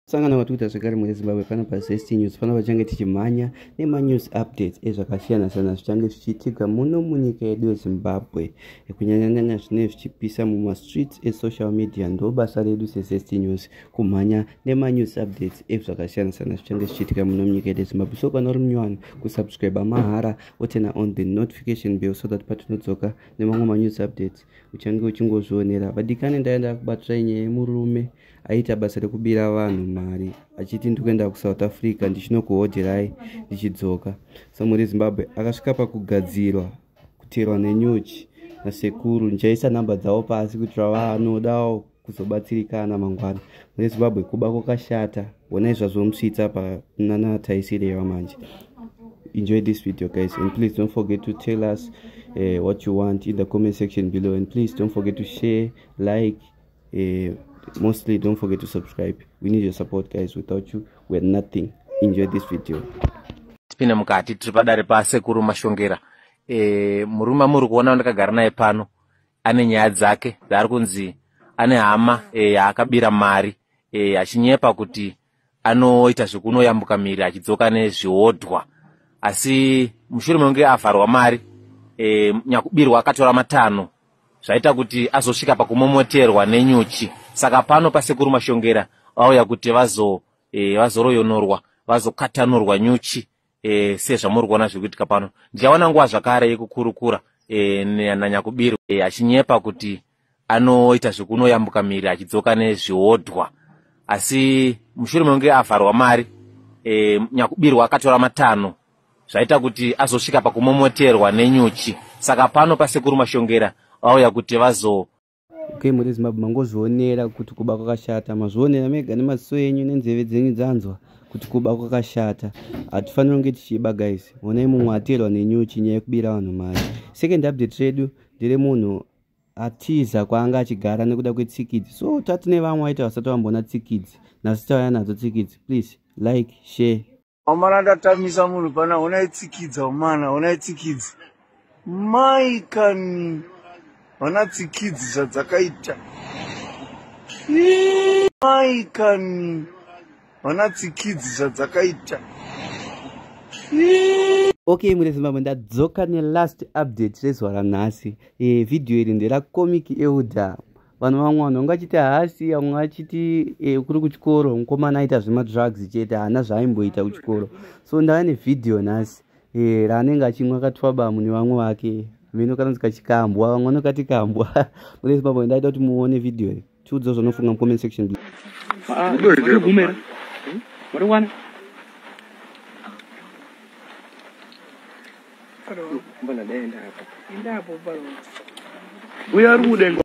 sangana kwatikuita zvekare mune zimbabwe pano pazest news pano pachange tichimhanya nemanews updates ezvakasiyana siyana zvichange zvichiitika muno munyika yedu yezimbabwe kunyanyanyanya zvinee zvichipisa mumastreets esocial media ndo basa redu sezest news kumhanya nemanews updates ezvakasiyana siyana zvichange zvichiitika muno munyika yedu yezimbabwe so kana uri munyowani kusubscribe mahara otena on the notification bell so that patinodzoka nemamwe manews updates uchange uchingozvionera vadikani ndaenda kubatirai nyaya yemurume aita basa rekubira vanhu mari achiti ndiri kuenda kusouth africa ndichinokuhodherai ndichidzoka samuri zimbabwe akasvika pakugadzirwa kuterwa nenyuchi nasekuru ndichaisa nhamba dzavo pasi kuitira vanodawo kuzobatsirikana mangwana mune zimbabwe kuba kwakashata honai zvazomusvitsa panana taisireva manje enjoy this video guys and please don't forget to tell us uh, what you want in the comment section below and please don't forget to share like uh, mostly don't forget to subscribe we need your support guys without you we're nothing enjoy this video tipinde mukati tiri padare pasekuru mashongera e, murume amuri kuona ndakagara naye pano ane nyaya dzake dzaari kunzi ane hama e, yaakabira e, mari e, achinyepa kuti anoita zvekunoyambuka miri achidzoka nezviodwa asi mushure mekunge avharwa mari e, nyakubirwa akatora matanho zvaita kuti azosvika pakumomoterwa nenyuchi saka pano pasekuru mashongera vauya kuti vazo e, vazoroyonorwa vazokatanurwa nyuchi e, sezvamuri kuona zviri kuitika pano ndichawana nguva zvakare yekukurukura e, nanyakubiru e, achinyepa kuti anoita zvekunoyambuka miri achidzoka nezviodwa asi mushure mekunge avharwa mari e, nyakubiru akatora matanho zvaita kuti azosvika pakumomoterwa nenyuchi saka pano pasekuru mashongera vauya kuti vazo Okay, muri Zimbabwe mangozvionera kuti kuba kwakashata. Mazvionera mega nemaziso enyu nenzeve dzenyu dzanzwa kuti kuba kwakashata. Hatifaniri kunge tichiba guys. Honai mumwe aterwa nenyuchi nyaya yekubira vanhu mari. Second update redu ndere munhu atiza kwaanga achigara nekuda kwetsikidzi. So tati nevamwe vaita vasati vamboona tsikidzi. Nhasi tauya nadzo tsikidzi. Please like, share. Amana ndatamisa munhu pana hona itsikidza umana hona itsikidzi mai kani hona tsikidzi zvadzakaita mai kani hona tsikidzi zvadzakaita ok mune zimbabwe ndadzoka nelast update rezuva ranhasi e, eh, vhidhiyo iri nderacomic euda vanhu vamwe vanhu vanga achiti haasi vamwe achiti e, kuri kuchikoro mukomana aita zvemadrugs chete haana zvaaimboita kuchikoro so ndava nevhidhiyo nhasi e, raanenge achimwa akatwabamu nevamwe vake mino kanonzi kachikambwa vamwe vanokati kambwa muresi pamwe ndaita kuti muone vhidhiyo iyi tiudzo zvanofunga mucomment section below Mbona dai enda hapo. Enda hapo balo. Uya rude.